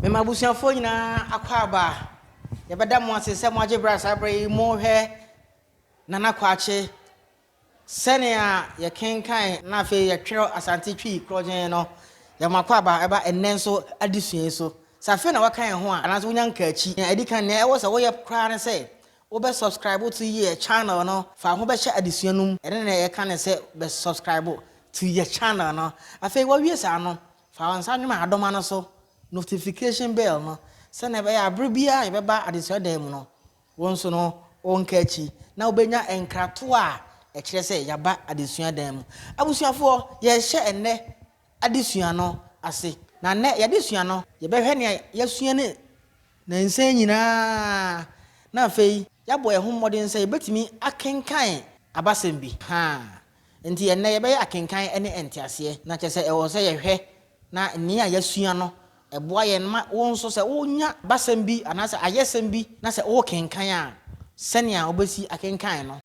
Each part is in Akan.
Me ma abusuafoɔ nyinaa akwaaba a, yɛbɛda mo ase sɛ moagye berɛ a saa berɛ yi morehwɛ Nana Kwakye. Sɛnea yɛkenkan na afei yɛtwerɛ Asante Twi korɔgyenn no, yɛde mo akwaaba ba ɛnnɛ nso adesua yi so. Sɛ afei na woaka yɛn ho a, anaasɛ wonya nkaakyi a, ɛdi kan, nea ɛwɔ sɛ woyɛ koraa ne sɛ wobɛ subscribe to yɛ channel no. Fa wo ho bɛhyɛ adesua no mu. Ɛno na yɛka no sɛ bɛ subscribe to yɛ channel no. Afei woawie saa no, Fa wo nsa nwom adoma no so, notification bell, no sɛnea ɛbɛyɛ a bere biara a yɛbɛba adesua dan mu no, wo nso no wonka akyi na wubenya nkratoɔ a ɛkyerɛ sɛ yɛaba adesua dan mu. Abusuafoɔ, yɛrehyɛ ɛnnɛ adesua no ase, na nnɛ y'adesua no, yɛbɛhwɛ nea yɛasua no nnansa yi nyinaa na afei yɛabɔ yɛn ho mmɔden sɛ yɛbɛtumi akenkan abasɛm bi. Ha Enti ɛnnɛ yɛbɛyɛ akenkan ne nteaseɛ, na kyerɛ sɛ ɛwɔ sɛ yɛhwɛ na nea yɛasua no boa yɛn ma wo nso sɛ wonya basɛm bi anaasɛ ayɛsɛm bi na sɛ worekenkan a, sɛnea wobɛsi akenkan no.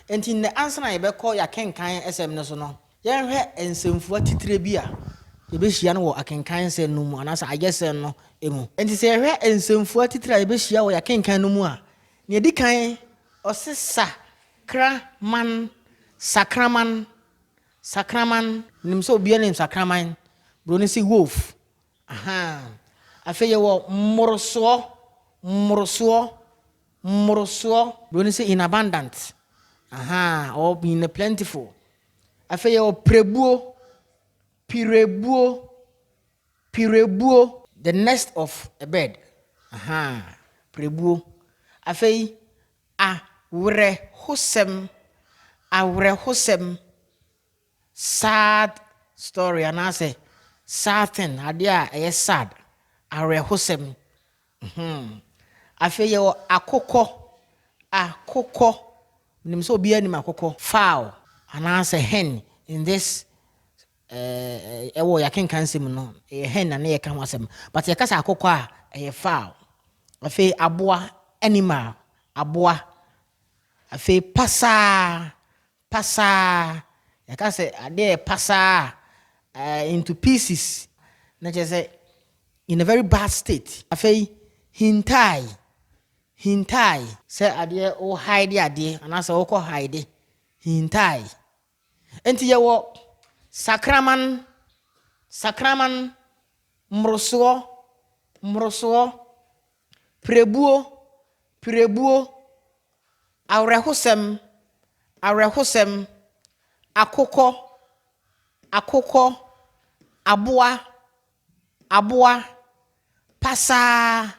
Enti nnɛ, ansa na yɛbɛkɔ yɛn akenkan nsɛm no so no, yɛnhwɛ nsɛmfua titire bi a yebehyia no wɔ akenkan nsɛm no mu anaasɛ ayɛsɛm no mu. Enti sɛ yɛhwɛ nsɛmfua titire a yebehyia wɔ yɛn akenkan no mu a, nea edi kan, ɔse sa kra man, sakraman, sakraman. Minim sɛ obiara nim sakraman, Buroni se wolf, ahaa. Afei yɛwɔ mmorosoɔ, mmorosoɔ, Mmorosoɔ, Buroni sɛ in abundant, ahaa, or in a plentiful. Afei yɛwɔ pirebuo, pirebuo, pirebuo. The nest of a bird, ahaa, pirebuo. Afei awerɛhosɛm, awerɛhosɛm. Sad story anaasɛ sad thing, adeɛ a ɛyɛ sad, awerɛhosɛm. Hmm. Afei yɛwɔ akokɔ, akokɔ. Menim sɛ obiara nim akokɔ. Fowl anaasɛ hen in this eh, ɛwɔ yɛakenkan nsɛm mu no, ɛyɛ hen na ne yɛka ho asɛm. But yɛka sɛ akokɔ a, ɛyɛ fowl. Afei aboa, animal, aboa. Afei pasaa, Pasaa, Yɛka sɛ adeɛ yɛ pasaa a, ɛyɛ into pieces, na kyerɛ sɛ in a very bad state. Afei, hintaae, hintaae. Sɛ adeɛ wo hide adeɛ anaasɛ wokɔ hide, hintaae. Enti yɛwɔ sakraman, sakraman, mmorosoɔ, mmorosoɔ, Pirebuo, pirebuo, awerɛhosɛm, awerɛhosɛm, akokɔ, akokɔ, aboa, aboa, pasaa,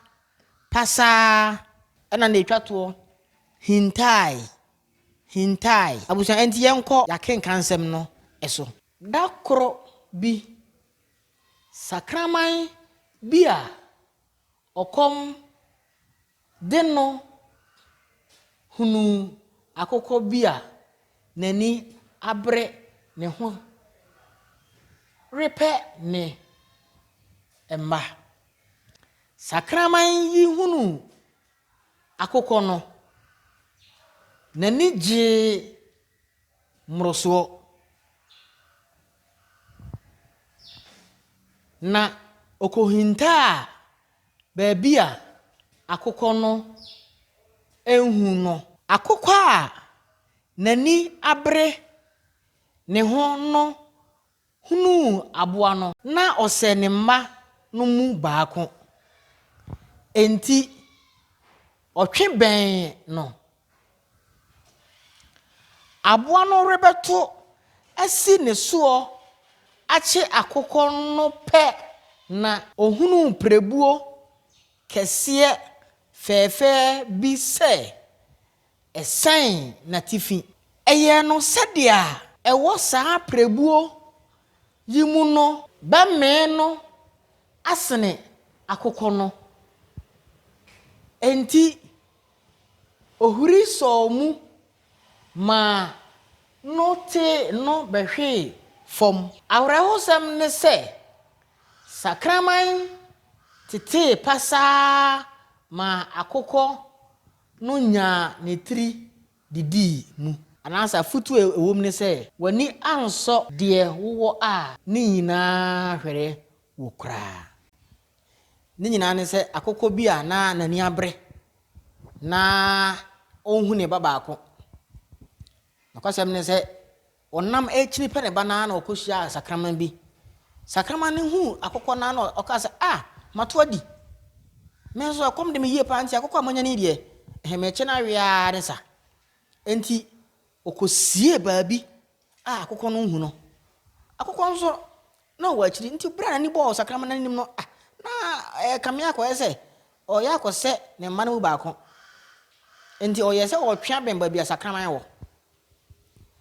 pasaa. Ɛna na ɛtwa toɔ, hintaae, hintaae. Abusua, ɛnti yɛnkɔ y'akenkansɛm no so. Da koro bi, sakraman bi a ɔkɔm de no hunuu akokɔ bi a n'ani abere ne ho repɛ ne mma. Sakraman yi hunuu akokɔ no, n'ani gyee mmorosoɔ na ɔkɔhintaa baabi a akokɔ no anhu no. Akokɔ a n'ani abere ne ho no hunuu aboa no. Ná ɔsɛ ne mma no mu baako. Enti ɔtwe bɛn no. Aboa no rebɛto asi ne soɔ akye akokɔ no pɛ na. Ɔhunuu pirebuo kɛseɛ fɛɛfɛɛ bi sɛ Ɛsɛn n'atifi. Ɛyɛɛ no sɛdeɛ a. Ɛwɔ saa prɛbuo yi mu no. Bɛmee no asene akokɔ no. Enti ɔhuri sɔɔ mu maa no tee no bɛhwee fam. Awerɛhosɛm ne sɛ, sakraman tetee pasaa maa akokɔ. no nyaa ne tiri didii mu. Anaasɛ afotu a ɛwom ne sɛ, W'ani ansɔ deɛ wowɔ a ne nyinaa hwere wo koraa. Ne nyinaa ne sɛ akokɔ bi a na n'ani abere na ɔnhu ne ba baako. Nokwasɛm ne sɛ, Ɔnam akyiri pɛ ne ba no ara na ɔkɔhyiaa sakraman bi. Sakraman no huu akokɔ no ara na ɔkaa sɛ, Ah, mato adi. Me nso ɛkɔm de me yie paa nti akokɔ a manya no yi deɛ, ɛhe mekye no awe ara ne sa. Enti ɔkɔsiee baabi a akokɔ no nhu no. Akokɔ nso, na ɔwɔ akyiri nti berɛ a n'ani bɔɔ sakraman no anim no, ah, na ɛrekame akɔyɛ sɛ ɔreyɛ akɔsɛ ne mma no mu baako. Enti ɔyɛɛ sɛ ɔretwe abɛn baabi a sakraman wɔ.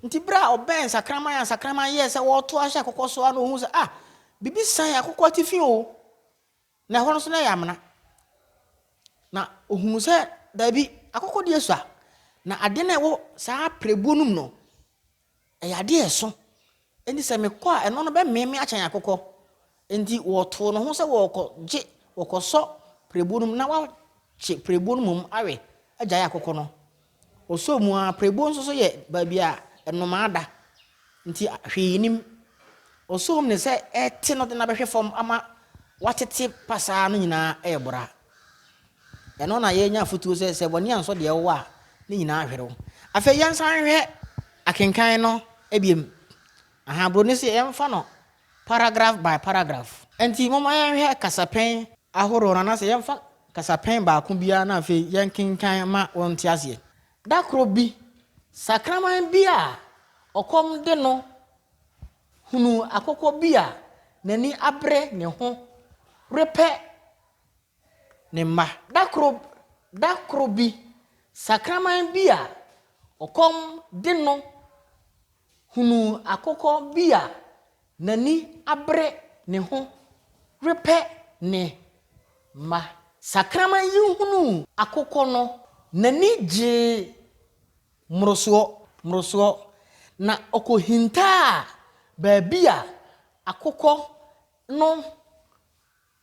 Nti berɛ a ɔbɛn nsakraman a nsakraman yɛɛ sɛ wɔreto ahyɛ akokɔ so ara na ɔhuu sɛ, ah, biribi san akokɔ atifi o, na ɛhɔ no so na ɛyɛ amena. Na ɔhunu sɛ daabi, akokɔ deɛ sua, na adeɛ no a ɛwɔ saa pirebuo no mu no, ɛyɛ adeɛ a ɛso, Enti sɛ mekɔ a, ɛno no bɛmee me akyɛn akokɔ. Enti wɔtoo no ho sɛ wɔrekɔgye, wɔkɔsɔ pirebuo no mu na wɔakye pirebuo no mmom awe agyae akokɔ no. Wɔsɔɔ mu ara, pirebuo nso so yɛ baabi a nnomaa da, enti hwee nnim. Ɔsɔɔ mu ne sɛ ɛrete no de no abɛhwe fam ama watete pasaa no nyinaa rebora. Ɛno na yɛnya afotuo sɛ, sɛ bɔne ansɔ deɛ wowɔ a, ne nyinaa ahwere wo. Afei yɛnsan nhwɛ akenkan no biom. Aha, buroni se yɛmfa no paragraph by paragraph. Enti momma yɛnhwɛ kasapɛn ahoroɔ no anaasɛ yɛmfa kasapɛn baako biara na afei yɛnkenkan ma wɔnte aseɛ. Da koro bi, sakraman bi a ɔkɔm de no hunuu akokɔ bi a n'ani abere ne ho repɛ ne mma. Da koro da koro bi, sakraman bi a ɔkɔm de no hunuu akokɔ bi a n'ani abere ne ho repɛ ne mma. Sakraman yi hunuu akokɔ no, n'ani gyee mmorosoɔ mmorosoɔ, na ɔkɔhintaa baabi a akokɔ no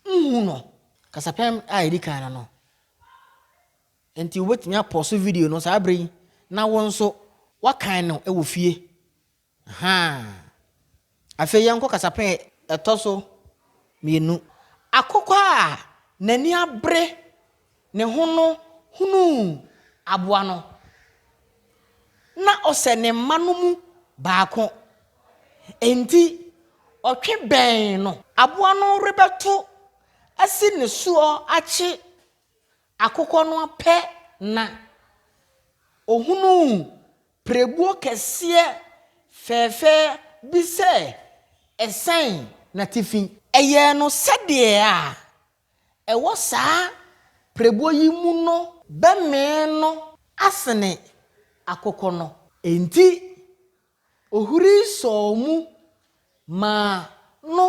Nhu no. Kasapɛn a edi kan no no. Enti wobɛtumi apɔso video no saa berɛ yi na wo nso woakan no wɔ fie. Ahaa. Afei yɛnkɔ kasapɛn a ɛtɔ so mmienu. Akokɔ a n'ani abere. ne ho no hunuu aboa no, na ɔsɛ ne mma no mu baako. Enti ɔtwe bɛn no. Aboa no rebɛto asi ne soɔ akye akokɔ no pɛ na ɔhunuu pirebuo kɛseɛ fɛɛfɛ bi sɛ ɛsɛn n'atifi. Ɛyɛɛ no sɛdeɛ a ɛwɔ saa prɛbuo yi mu no bɛmee no asene akokɔ no. Enti ohuri sɔɔ mu maa no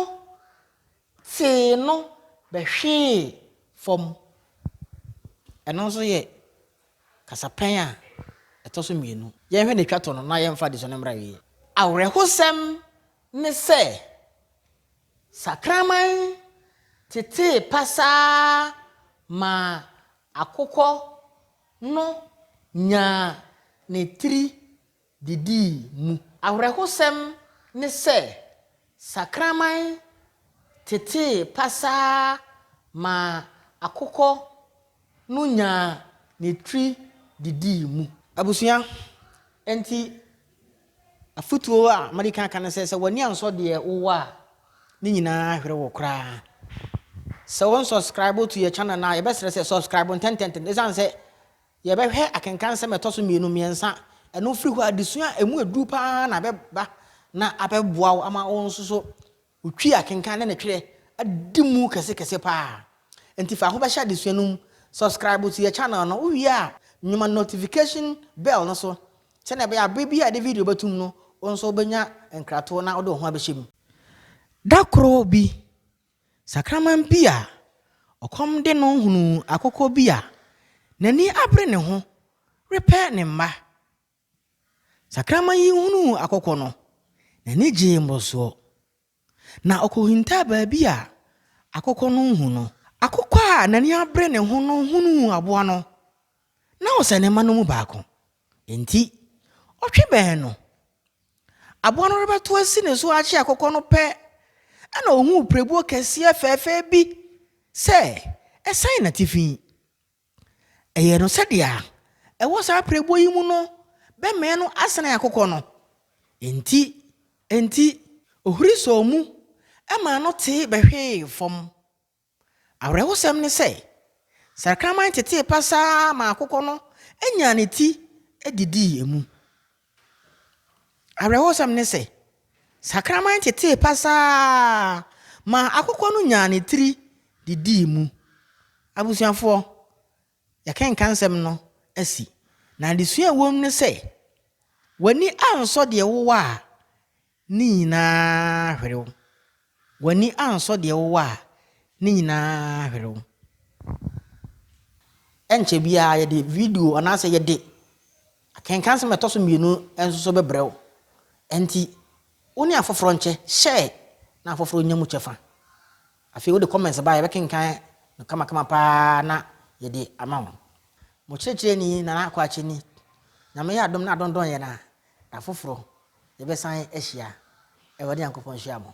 tee no bɛhwee fam. Ɛno nso yɛ kasapɛn a ɛtɔ so mmienu. Yɛnhwɛ nea ɛtwa to no na yɛmfa adesua no mmra awieeɛ. Awerɛhosɛm ne sɛ, Sakraman tetee pasaa maa akokɔ no nyaa ne tiri didii mu. Awerɛhosɛm ne sɛ, sakraman tetee pasaa maa akokɔ no nyaa ne tiri didii mu. Abusua, enti Afotuo a madi kan aka ne sɛ, sɛ w'ani ansɔ deɛ wowɔ a, ne nyinaa ahwere wo koraa. Sɛ wo nsɔskraibo to yɛ channel no a, yɛbɛsrɛ sɛ sɔskraibo ntɛntɛntɛm. Esiane sɛ yɛbɛhwɛ akenkan nsɛm a ɛtɔ so mmienu, mmiɛnsa, ɛno firi hɔ a, adesua a ɛmu aduru pa ara na ɛbɛba na abɛboa wo ama wo nso so Wotwi akenkan ne ne twerɛ adi mu kɛse kɛse paa. Nti fa ho bɛhyɛ adesua no mu. Subscribe to yɛ channel no, wo wie a nyoma notification bell no so sɛdeɛ ɛbɛyɛ a berɛ biara a yɛde video bɛto mu no wo nso wo bɛnya nkratoɔ na wode wo ho abɛhyɛ mu. Da koro bi, sakraman bi a ɔkɔm de no hunuu akokɔ bi a n'ani abere ne ho repɛ ne mma Sakraman yi hunuu akɔkɔ no, n'ani gyee mmorosoɔ, na ɔkɔhintaa baabi a akɔkɔ no nhu no. Akɔkɔ a n'ani abere ne ho no hunuu aboa no, na ɔsɛ ne mma no mu baako. Enti, ɔtwe bɛn no. Aboa no rebɛto asi ne so akye akɔkɔ no pɛ, ɛnna ɔhuu pirebuo kɛseɛ fɛɛfɛ bi sɛ ɛsɛn n'atifi. Ɛyɛɛ no sɛdeɛ a ɛwɔ saa apirebuo yi mu no bɛmee no asene akokɔ no. Enti, enti ɔhuri sɔɔ mu maa no tee bɛhwee fam. Awerɛhosɛm ne sɛ, sakraman tetee pasaa maa akokɔ no nyaa ne ti didii emu. Awerɛhosɛm ne sɛ, sakraman tetee pasaa maa akokɔ no nyaa ne tiri de dii mu. Abusuafoɔ, yɛakenkan nsɛm no asi, na adesua a ɛwom ne sɛ, W'ani ansɔ deɛ wowɔ a, Ne nyinaa hwere wo. W'ani ansɔ deɛ wowɔ a, ne nyinaa hwere wo. Ɛnkyɛ biara yɛde video anaasɛ yɛde akenkan nsɛm a ɛtɔ so mmienu nso so bɛbrɛ wo. Ɛnti, wo ne afoforɔ nkyɛ, share na afoforɔ nya mu kyɛfa. Afei wode comments ba a, yɛbɛkenkan no kamakama pa ara na yɛde ama wo. Mo kyerɛkyerɛni Nana Akwakyeni. Nyame yɛ adom na adondɔn yɛn a, Da foforɔ, yɛbɛsan ahyia. Awurade Nyankopɔn nhyira mo.